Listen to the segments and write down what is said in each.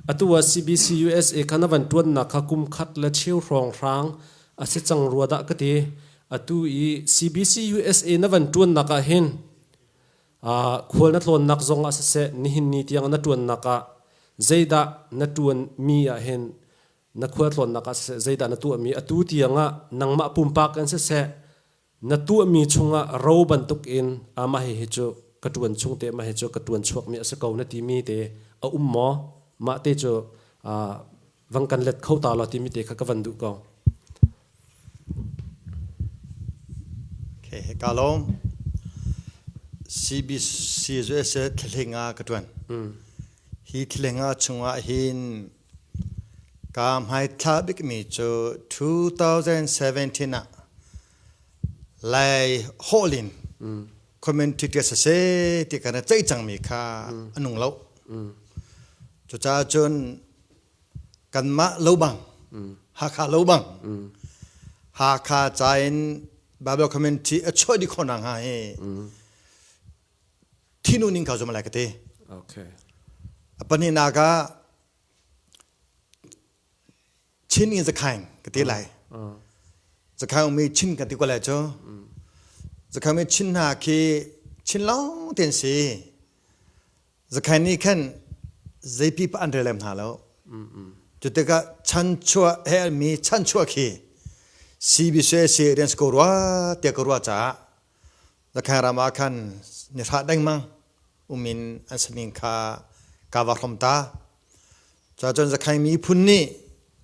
Atu ah CBC USA kha na van ṭuannak kha kum khat le cheu hrawng hrang a si cang rua dah ka ti. Atu i CBC USA na van ṭuannak ah hin khual na tlawnnak zong ah siseh nihin ni tiang na ṭuannak ah zeidah na ṭuanmi ah hin na khual tlawnnak ah siseh zeidah na tuahmi atu tiang ah nangmah pumpak in siseh na tuahmi chungah ro bantukin ah mah hihi cu ka ṭuan chung te mah hi cu ka ṭuan chuakmi a si ko na timi te a um maw mah te cu vang kan let kho ta lo timi te kha ka van duh ko okay ka lawm CBC US thleng ah ka ṭuan hi thleng ah chungah hin Kaa hmaithla bikmi cu 2017 ah Lai holh in commentary ṭi a si seh ti kan i ceih cangmi kha a nung lo. Cucaah cun kanmah lobang, Hakha lobang, Hakha ca in Bible commentary a chuah dih khawh nakhnga hi thinu ning ka zum lai ka ti okay panihnak ah chin in zakhain ka ti lai zakhain umi chin ka ti ko lai cu zakhain mi chin hna khi chin long ten si zakhain nih khan zeipi pa an relem hna lo cu tikah chan chua he mi chan chua khi CBC si rian ko rua te ko rua caah Lakhan ram ah khan ni hra dengmang umin an saning kha kava hrom ta. Cha cun zakhaing mi phun nih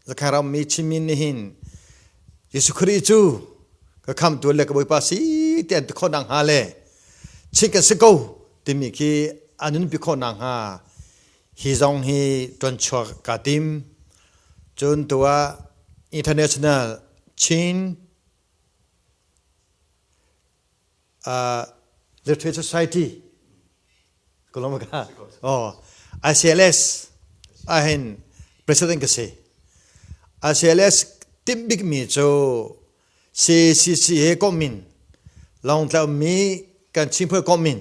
zakhaing ram mi chinmin nih hin Jesuh Khrih cu ka kham tu le ka bawipa si ti an khon nang ha le chinh kan si ko timi khi anun pi khon nang ha hi zong hi tuan chuak ka tim cun tua international Chin Literary Society Kulomaka oh ICLS ahhin president ka si ICLS timh bikmi cu CCC he komh in Lawngtla ummi kan Chin Puai komh in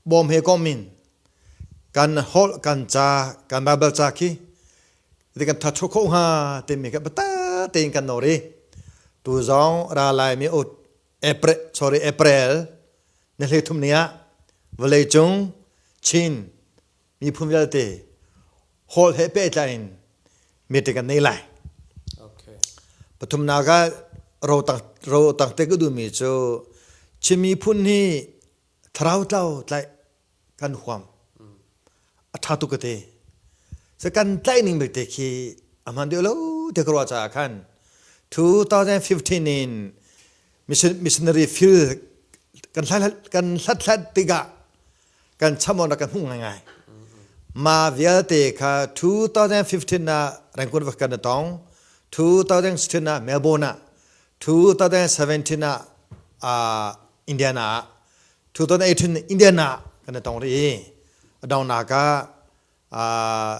bawm he kom in kan holh kan ca kan bible ca khi ti kan that thuk kho hnga timi ka bata tein kan no ri tu zong ra lai mi ut april sorry april ne hle thum ni ah vale cung chin mi phun vialte hol he pe tla in mi te kan nei lai okay pathum na ga ro tang ro tang te ku du mi chu chimi phun hi thlarau tlau tlaih kan huam a ṭha tuk ka ti se kan tlaih ning belte khi a hman deuh lo te ka ruah caah khan 2015 in missionary field kan hlat kan hlat hlat tikah kan chamon kan hmuh ngai ma vialte kha 2015 na rangkun va kan tong 2016 na Melbourne ah 2017 ah Indiana ah 2018 Indiana ah kan i tong rih i a donghnak ah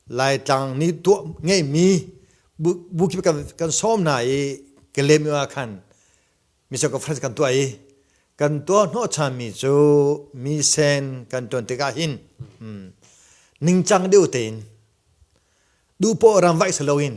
Laitlang nih tuah ngeihmi bu kip kan sawm hna i Kalemi ah khan Mizo Conference kan tuah i kan tuah hnawhchanmi cu misen kan tuan tikah hin ningcang deuh tein duhpoh ram vaih si loin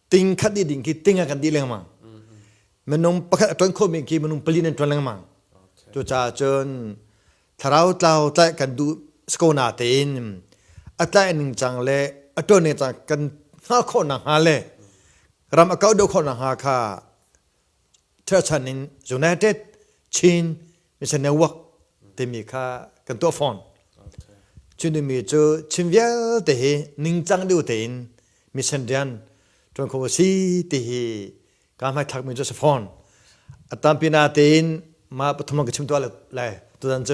ting khat dih ding khi ting a kan dih lengmang minung pakhat a ṭuan khomi khi minung pali nan ṭuan lengmang cucaah cun thlarau tlau tlaih kan duh ko na tein a tlaih ning cang le a ṭuan ning cang kan hngah khawh nakhnga le ram a kau deuh khawh nakhnga kha Ṭherchan in United, Chin, Mission Network timi kha kan tuah fawn. Cunimi cu Chin vialte hi ningcang deuh tein mission rian ṭuan kho si ti hi ka hmaithlakmi cu a si fawn. A tampina tein mah pathum ka chim tuah lai tutan cu